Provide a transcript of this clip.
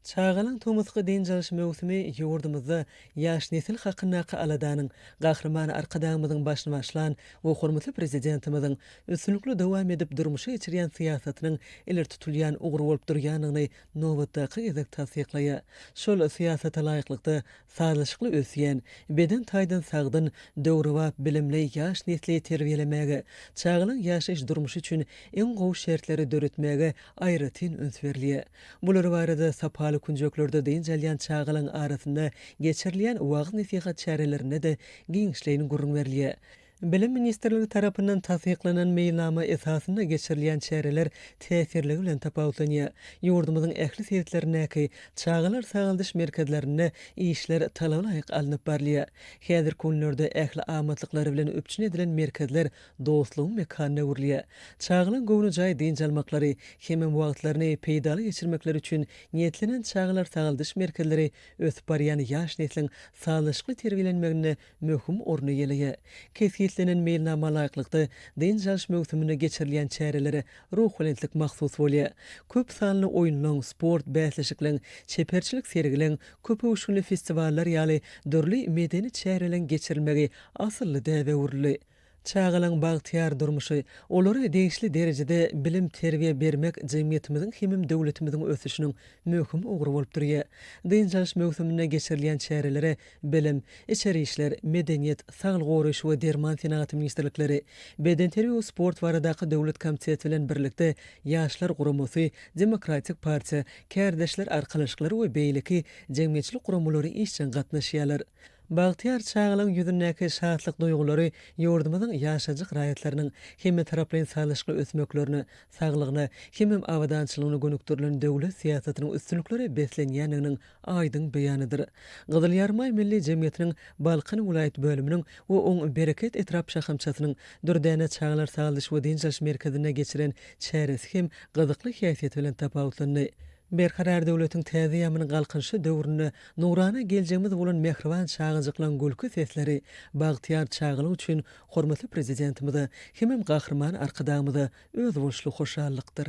Çagalaň tomusky dynç alyş möwsümi ýurdumyzda ýaş nesil hakyndaky aladanyň Gahryman Arkadagymyzyň başyny başlan we hormatly Prezidentimiziň üstünlikli dowam edip durmuşa geçirýän syýasatynyň ileri tutulýan ugry bolup durýandygyny nobatdaky gezek tassyklaýar. Şol syýasata laýyklykda, sazlaşykly ösýän, beden taýdan sagdyn, döwrebap bilimli ýaş nesli terbiýelemäge, çagalaň ýaşaýyş durmuşy üçin iň gowy şertleri döretmäge aýratyn üns berilýär. Bular barada sapaly künjeklerde dynç alýan çagalaryň arasynda geçirilýän wagyz-nesihat çärelerinde-de giňişleýin gürrüň berilýär. Bilim ministrligi tarapyndan tassyklanan meýilnama esasynda geçirilýän çäreler täsirligi bilen tapawutlanýar. Ýurdumyzyň ähli sebitlerindäki çagalar sagaldyş merkezlerinde işler talabalaýyk alnyp barylýar. Häzirki günlerde ähli amatlyklary bilen üpjün edilen merkezler dostlugyň mekanyna öwrülýär. Çagalaň göwnejaý dynç almaklary hemem wagtlaryny peýdaly geçirmekleri üçin niýetlenen çagalar sagaldyş merkezleri ösüp barýan ýaş nesliň sazlaşykly terbiýelenmeginde möhüm orun eýeleýär. Kesgitlenen meýilnama laýyklykda, dynç alyş möwsüminde geçirilýän çärelere ruhubelentlik mahsus bolýar. Köp sanly oýunlaň, sport bäsleşikleň, çeperçilik sergileň, köpöwüşginli festiwallar ýaly dürli medeni çäreleň geçirilmegi asylly däbe öwrüldi. Çagalaň bagtyýar durmuşy, olara degişli derejede bilim-terbiýe bermek jemgyýetimiziň hemem döwletimiziň ösüşiniň möhüm ugry bolup durýar. Dynç alyş möwsüminde geçirilýän çärelere Bilim, Içeri işler, Medeniýet, Saglygy goraýyş we derman senagaty ministrlikleri, Bedenterbiýe we sport baradaky döwlet komiteti bilen birlikde Ýaşlar guramasy, Demokratik partiýa, Kärdeşler arkalaşyklary we beýleki jemgyýetçilik guramalary işjeň gatnaşýarlar. Bagtyýar çagalygyň ýüzündäki şatlyk duýgulary ýurdumyzyň ýaşajyk raýatlarynyň hemmetaraplaýyn sazlaşykly ösmeklerine, saglygyna hemem abadançylygyna gönükdirilen döwlet syýasatynyň üstünliklere beslenýändiginiň aýdyň beýanydyr. Gyzyl Ýarymaý Milli jemgyýetiniň Balkan welaýat bölüminiň we oň Bereket etrap şahamçasynyň Dürdäne çagalar sagaldyş we dynç alyş merkezinde geçiren çäresi hem gyzykly häsiýeti bilen tapawutlandy. Berkarar döwletiň täze ýamynyň Galkynyşy döwründe nurana geljegimiz bolan mähriban çagajyklaryň gülki sesleri bagtyýar çagalyk üçin hormatly Prezidentimize hemem Gahryman Arkadagymyza özboluşly hoşallykdyr.